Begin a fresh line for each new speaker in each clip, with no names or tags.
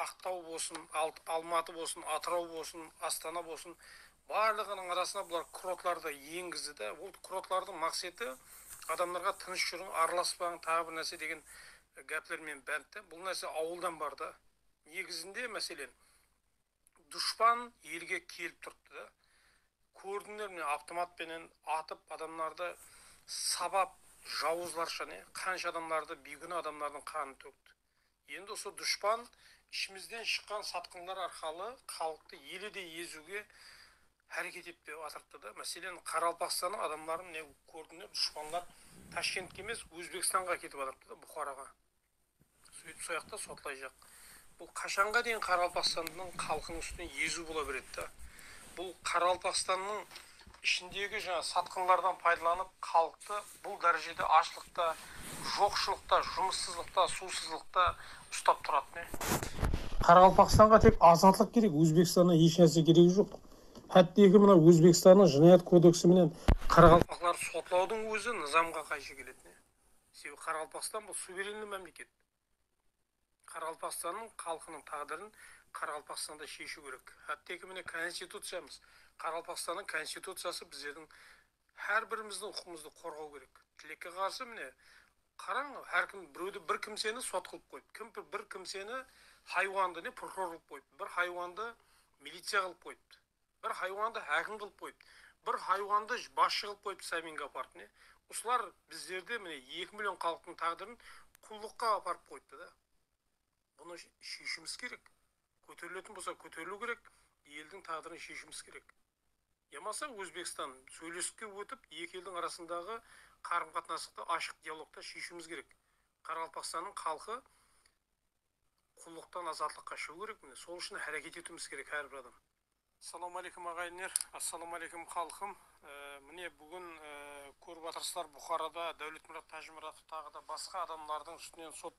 Aqtaw bolsın, Almatı bolsın, Atırau bolsın, Astana bolsın, Barlıǵınıń arasına bular kurortlardı da engizdi de, bul kurortlardıń maqseti adamlarǵa tınısh juriń, aralaspań, taǵı bir nárse degen gápler menen bánt de. Bul nárse awıldan bar da. Negizinde, máselen, dushpan elge kelip turıptı da, kórdińler mine avtomat penen atıp adamlardı sabap, jawızlarsha ne, qansha adamlardı, biygúna adamlardıń qanın tókti. Endi usı dushpan ishimizden shıqqan satqınlar arqalı xalıqtı ele de eziwge háreket etpep atırıptı da. Máselen, Qaraqalpaqstanıń adamların ne kórdim de, dushpanlar Tashkentke emes, Ózbekstanǵa aketip atırıptı da, Buxaraǵa. Sóytip soyaqta sotlayjaq. Bul qashanǵa deyin Qaraqalpaqstannıń xalqınıń ústinen eziw bola beredi da. Bul Qaraqalpaqstannıń. ishindegi jańa satqınlardan paydalanıp xalıqtı bul dárejede ashlıqta, joqshılıqta, jumıssızlıqta, suwsızlıqta ustap turatuın. Qaraqalpaqstanǵa tek azatlıq kerek, Ózbekstannan esh nárse keregi joq. Hátteki mına Ózbekstannıń Jınayat kodeksi menen qaraqalpaqlardı sotlawdıń ózi nızamǵa qayshı keletın. Sebebi Qaraqalpaqstan bul suverenniy mámleket. Qaraqalpaqstannıń xalqınıń táǵdirin Qaraqalpaqstanda sheshiw kerek. Hátteki mine Konstituciyamız, Qaraqalpaqstannıń Konstituciyası bizlerdiń hár birimizdiń huqıqımızdı qorǵaw kerek. Tilekke qarsı mine qarań hár kim birewdi bir kimseni sot qılıp qoyıp, kim bir kimseni haywandı ne prokuror qılıp qoyıptı, bir haywandı miliciya qılıp qoyıptı. Bir haywandı hákim qılıp qoyıptı. Bir haywandı basshı qılıp qoyıptı Saminga aparıp mine. Usılar bizlerdi mine eki million xalıqtıń táǵdirin qullıqqa aparıp qoyıptı da. Bunı sheshimız kerek. Kóteriletin bolsa kóteriliu kerek, eldiń táǵdirin sheshimız kerek. Yamasa Ózbekstan sóylesikke ótip eki eldiń arasındaǵı qarım-qatnasıqtı ashıq dialogta sheshiuimiz kerek. Qaraqalpaqstannıń xalqı. Qullıqtan azatlıqqa shıǵıw kerek mine sol ushın háreket etiwimiz kerek hár bir adam. Assalauma aleykum aǵayinler Assalauma aleykum xalqım mine búgin kórip atırsızlar Buxarada Dáwletmurat Tájimuratov taǵıda basqa adamlardıń ústinen sot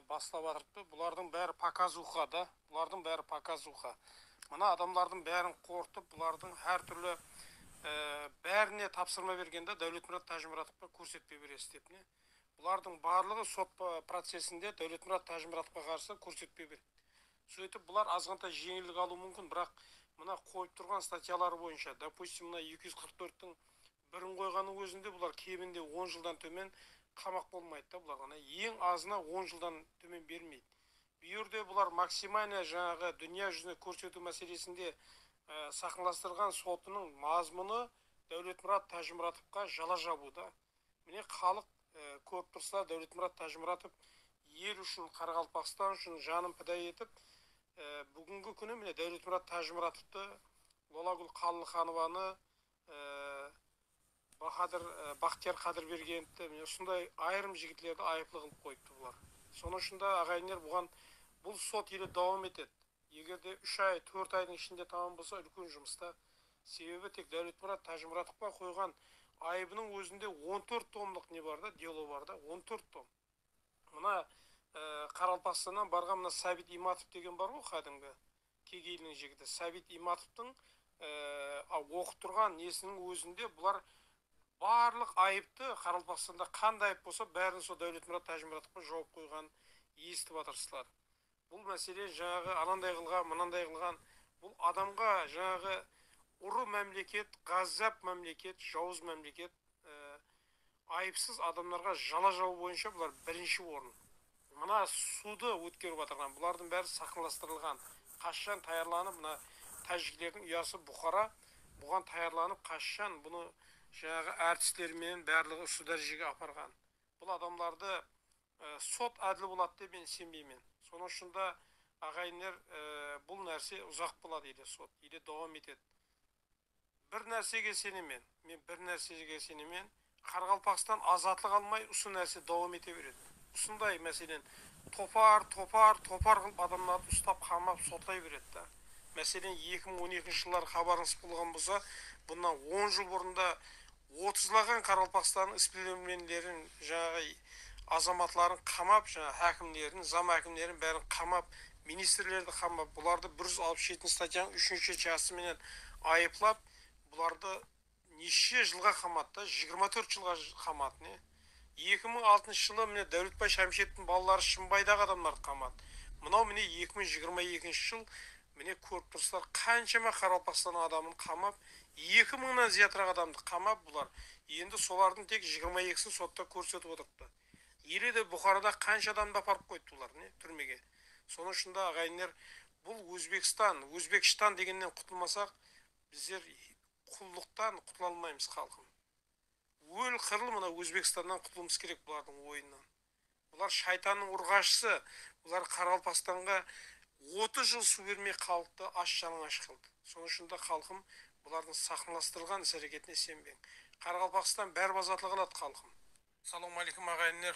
baslap atırıptı bulardıń bári pokazuxa da bulardıń bári pokazuxa mına adamlardıń bárin qorqıtıp bulardıń hár túrli bárine tapsırma bergen da Dáwletmurat Tájimuratovqa kórsetpe beresiz dep mine Bulardıń barlıǵı sot procesinde Dáwletmurat Tájimuratovqa qarsı kórsetpe ber. Sóytip bular azǵantay jeńillik alıwı múmkin, biraq mına qoyıp turǵan statyaları boyınsha, dopustim, mına eki júz qırq tórt tiń birin qoyǵannıń ózinde bular keminde on jıldan tómen qamaq bolmaydı da bularǵa ne eń azına on jıldan tómen bermeydi. Bu jerde bular maksimalnıya jańaǵı dúnya júzine kórsetiw máselesinde saqnlastırǵan sotınıń mazmunı Dáwletmurat Tájimuratovqa jala jabıw da. Mine xalıq kórip tursızlar Dáwletmurat Tájimuratov el ushın Qaraqalpaqstan ushın janın pida etip búgingi kúni mine Dáwletmurat Tájimuratovtı Lolagúl Qallıxanovanı Bahadır Baxtiyar Qadirbergenovtı mine usınday ayırım jigitlerdi ayıplı qılıp qoyıptı bular. Sonıń ushında aǵayinler buǵan bul sot ele dawam etedi. Eger de úsh ay, tórt aydıń ishinde tamam bolsa úlken jumısta. Sebebi tek Dáwletmurat Tájimuratovqa qoyǵan ayıbınıń ózinde on tórt tomlıq ne bar da, delo bar da, on tórt tom. Mına Qaraqalpaqstannan barǵan mına Sábit Imatov degen bar ǵoy qádimgi Kegeyiliniń jigiti. Sábit Imatovtıń oqıp turǵan nesiniń ózinde bular barlıq ayıptı Qaraqalpaqstanda qanday ayıp bolsa bárin sol Dáwletmurat Tájimuratovqa jawıp qoyǵanın esitip atırısızlar. Bul másele jańaǵı ananday qılǵan, mınanday qılǵan, bul adamǵa jańaǵı urı mámleket, ǵazzap mámleket, jawız mámleket, ayıpsız adamlarǵa jala jawıw boyınsha bular birinshi orın. Mına sudı ótkerip atırǵan bulardıń bári saxnalastırılǵan, qashshan tayarlanıp mına tájiklerdiń uyası Buxara buǵan tayarlanıp qashshan bunı jańaǵı artistleri menen bárliǵi usı dárejege aparǵan. Bul adamlardı Sot ádil boladı dep men isenbeymen. Sonıń ushın da aǵayinler bul nárse uzaq boladı ele sot ele dawam etedi. Bir nársege isenemen, men bir nársege isenemen, Qaraqalpaqstan azatlıq almay usı nárse dawam ete beredi. Usınday, máselen, topar, topar, topar qılıp adamlardı ustap qamap sotlay beredi da. Máselen, eki mıń on ekinshi jılları xabarıńız bolǵan bolsa, bunnan on jıl burın da Otızlaǵan qaraqalpaqstanıń isbilermenlerin jańaǵı azamatların qamap jańaǵı hákimlerin zam hákimlerin bárin qamap ministrlerdi qamap bulardı bir júz alpıs jetinshi statyanıń úshinshi chası menen ayıplap bulardı neshshe jılǵa qamattı jigirma tórt jılǵa qamat ne eki mıń altınshı jılı mine dáuletbay shamsheevtiń balaları shınbaydaǵı adamlardı qamat mınau mine eki mıń jigirma ekinshi jıl Mine kórip turısızlar qanshama Qaraqalpaqstanıń adamın qamap, eki mıńnan zıyatıraq adamdı qamap bular. Endi solardın tek jigirma ekisin sotta kórsetip otırıptı. Ele de Buxarada qansha adamdı aparıp qoyıptı bular, ne, túrmege. Sonıń ushın da aǵayinler bul Ózbekstan, Ózbekshtan degennen qutılmasaq, bizler qullıqtan qutıla almaymız xalqım. Ól-qırıl mına Ózbekstannan qutılıwımız kerek bulardıń oyınınan. Bular shaytannıń urǵashısı, bular Qaraqalpaqstanǵa otız jıl suw bermey xalıqtı ash-jalıńash qıldı. Sonıń ushın da xalqım bulardıń saqınlastırılǵan is-háreketine isenbeń. Qaraqalpaqstan báribazatlıǵa aladı xalqım. Salawmaleykum aǵayinler